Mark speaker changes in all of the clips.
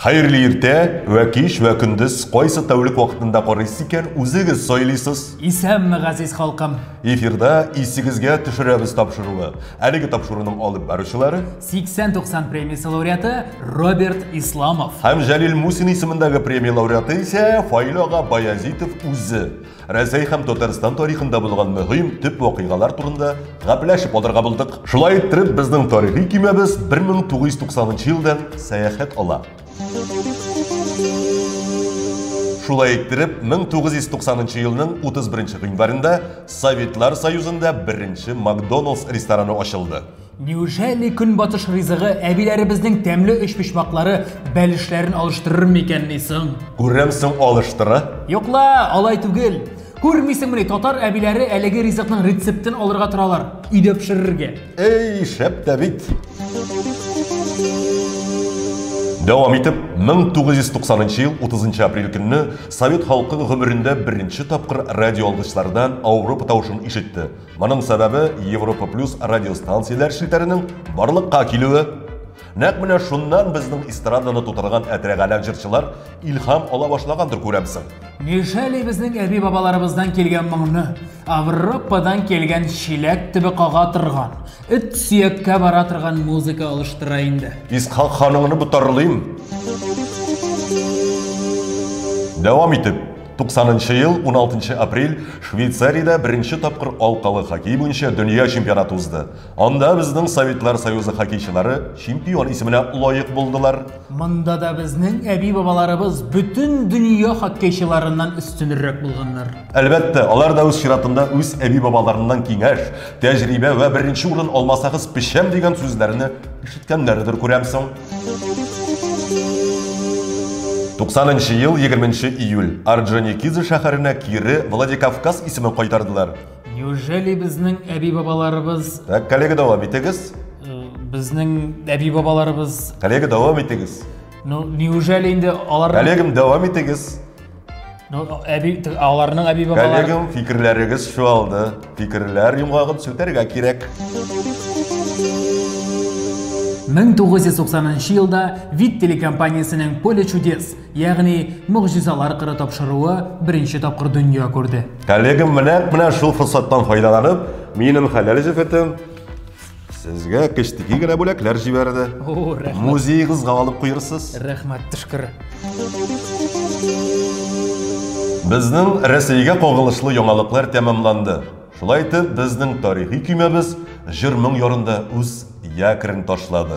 Speaker 1: Хәерле иртә, вә кич, вә көндез, кайсы тәүлек вакытында карыйсыз икән, үзегез сайлыйсыз. Исәнме, газиз
Speaker 2: халкым! Эфирда
Speaker 1: исегезгә төшерәбез тапшыруы. Әлеге тапшыруның алып баручылары 80-90
Speaker 2: премиясе лауреаты Роберт Исламов. Һәм Җәлил Мусин
Speaker 1: исемендәге премия лауреаты исә Фаилага Баязитов үзе. Рәсәй һәм Татарстан тарихында булган мөһим төп вакыйгалар турында гәпләшеп алырга булдык. Шулай иттереп, безнең тарихи көймәбез 1990 елдан сәяхәт ала. Шулай иттереп, 1990 елның 31 гыйнварында Советлар Союзында беренче Макдоналдс рестораны ачылды. Неужели
Speaker 2: көнбатыш ризыгы әбиләребезнең тәмле өчпочмаклары бәлешләрен алыштырыр микәнни соң? Күрәм соң
Speaker 1: алыштыра? Юк ла, алай
Speaker 2: түгел. Күрмисеңмени, татар әбиләре әлеге ризыкның рецептын алырга торалар, өйдә пешерергә. Әй, шәп
Speaker 1: тә бит! Дәвам итеп, 1990 ел 30 апрель көнне совет халкы гомерендә беренче тапкыр радиоалгычларда Ауропа тавышын ишетте, Моның сәбәбе Европа плюс радиостанцияләр челтәренең барлыкка килүе. Нәк менә шуннан безнең эстраданы тутырган әтрәгаләк җырчылар илһам ала башлагандыр күрәмсең. Нишәли безнең
Speaker 2: әби бабаларыбыздан килгән моңны, Авропадан килгән чиләк төбе кага торган, эт сөяккә бара торган музыка алыштыра инде. Исхак ханыңны
Speaker 1: ботарлыйм. Дәвам итеп, 90 ел 16 апрель Швейцариядә беренче тапкыр алкалы хоккей буенча дөнья чемпионаты узды. Анда безнең Советлар Союзы хоккейчылары чемпион исеменә лаек булдылар. Монда да
Speaker 2: безнең әби-бабаларыбыз бөтен дөнья хоккейчыларыннан өстенрәк булганнар. Әлбәттә, алар
Speaker 1: да үз чиратында үз әби-бабаларыннан киңәш, тәҗрибә вә беренче урын алмасагыз пешәм дигән сүзләрне ишеткәннәрдер күрәмсең. Туксанынчы ел 20 июль Орджоникидзе шәһәренә кире Владикавказ исемен кайтардылар. Неужели
Speaker 2: безнең әби-бабаларыбыз... Так, коллега, дәвам
Speaker 1: итегез. Э, безнең
Speaker 2: әби-бабаларыбыз... Коллега, дәвам итегез.
Speaker 1: Ну, неужели
Speaker 2: инде алар... Коллегам, дәвам итегез.
Speaker 1: Ну, әби, т-
Speaker 2: аларның әби бабалары. Коллегам, фикерләрегез
Speaker 1: чуалды. Фикерләр йомгагын сүтәргә кирәк.
Speaker 2: 1990 елда Вид телекомпаниясенең Поле чудес, ягъни Могҗизалар кыры тапшыруы беренче тапкыр дөнья күрде. Коллегам, менә,
Speaker 1: менә шул форсаттан файдаланып, минем хәләл җефетем Сезгә кечтеки генә бүләкләр җибәрде. О, рәхмәт. Музеегызга алып куерсыз. Рәхмәт, тышкыр. Безнең Рәсәйгә кагылышлы яңалыклар тәмамланды. Шулай итеп, безнең тарихи көймәбез җыр-моң ярында үз якорен ташлады.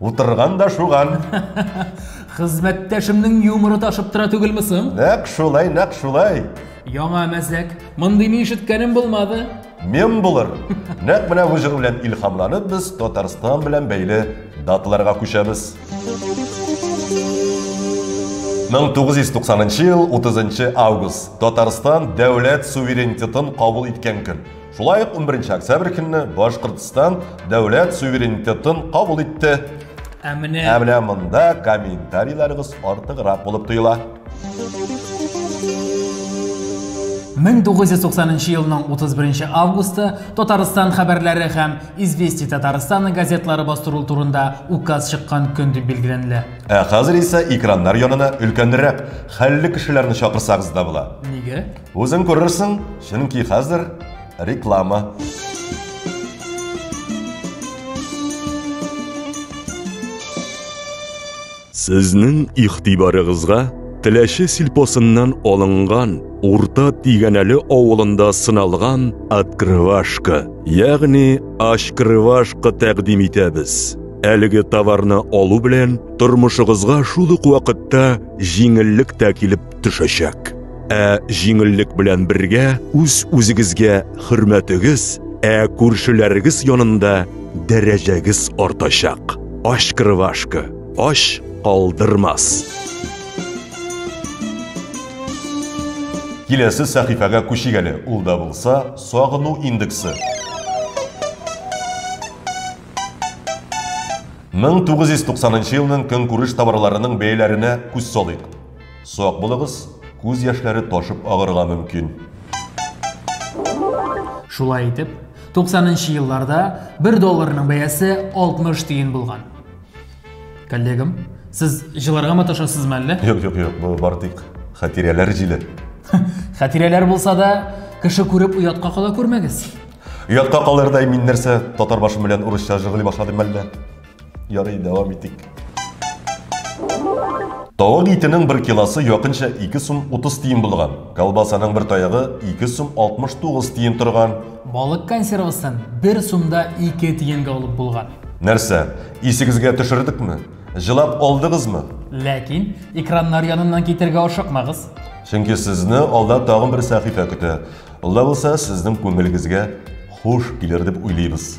Speaker 2: Утырган да
Speaker 1: шуган. Хезмәттәшемнең
Speaker 2: юморы ташып тора түгелме соң? Нәкъ шулай, нәкъ
Speaker 1: шулай. Яңа
Speaker 2: мәзәк. Мондыйны ишеткәнем булмады. Мем булыр.
Speaker 1: Нәкъ менә бу җыр белән илһамланып без Татарстан белән бәйле даталарга күчәбез. 1990 ел 30 август Татарстан дәүләт суверенитетын кабул иткән көн. Шулай ук 11 октябрь көнне Башкортстан дәүләт суверенитетын кабул итте. Ә менә Ә менә монда комментарийларыгыз артыграк булып тоела.
Speaker 2: 1990 елның 31 августы Татарстан хәбәрләре һәм Извести Татарстаны газетлары бастыру турында указ чыккан көн дип билгеләнелә. Ә хәзер исә
Speaker 1: экраннар янына өлкәнрәк, хәлле кешеләрне чакырсагыз да була. Нигә? Үзең
Speaker 2: күрерсең,
Speaker 1: чөнки хәзер реклама.
Speaker 3: Сезнең игътибарыгызга Теләче сельпосыннан алынган Урта Тигәнәле авылында сыналган открывашка, ягъни ашкрывашка тәкъдим итәбез. Әлеге товарны алу белән тормышыгызга шул ук вакытта җиңеллек тә килеп төшәчәк. Ә җиңеллек белән бергә үз-үзегезгә хөрмәтегез, ә күршеләрегез янында дәрәҗәгез артачак. Ач кырвашка, ач калдырмас.
Speaker 1: Киләсе сәхифәгә күчик әле. Ул да булса, сагыну индексы. 1990 елның көнкүреш товарларының бәяләренә күз салыйк. Сак булыгыз, күз яшьләре ташып агырга мөмкин.
Speaker 2: Шулай итеп, 90 нчы елларда 1 долларның бәясе 60 тиен булган. Коллегам, сез җыларга маташасызмы әллә? Юк, юк, юк, бу бар
Speaker 1: тик хатирәләр җиле. Хатирәләр
Speaker 2: булса да, кеше күреп уятка кала күрмәгез. Оятка
Speaker 1: калырдай мин нәрсә, татар башым белән урысча жыгыли башладым әллә? Ярый, дәвам итик. Тавык итенең бер килосы якынча 2 сум 30 тиен булган. Колбасаның бер таягы 2 сум 69 тиен торган. Балык консервасын
Speaker 2: бер сумда 2 тиенгә алып булган. Нәрсә,
Speaker 1: исегезгә төшердекме? Җылап алдыгызмы? Ләкин
Speaker 2: экраннар яныннан китергә ашыкмагыз. Чөнки сезне
Speaker 1: алда тагын бер сәхифә көтә. Ул да булса сезнең күңелегезгә хуш килер дип уйлыйбыз.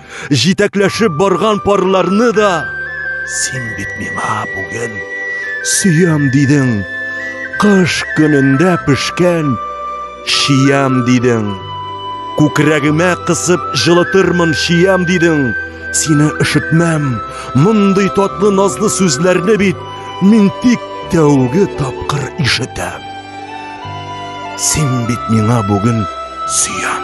Speaker 3: җитәкләшеп барган парларны да син бит миңа бүген сөям дидең, кыш көнендә пешкән чиям дидең, күкрәгемә кысып җылытырмын чиям дидең, сине өшетмәм, мондый татлы назлы сүзләрне бит мин тик тәүге тапкыр ишетәм. Син бит миңа бүген сөям.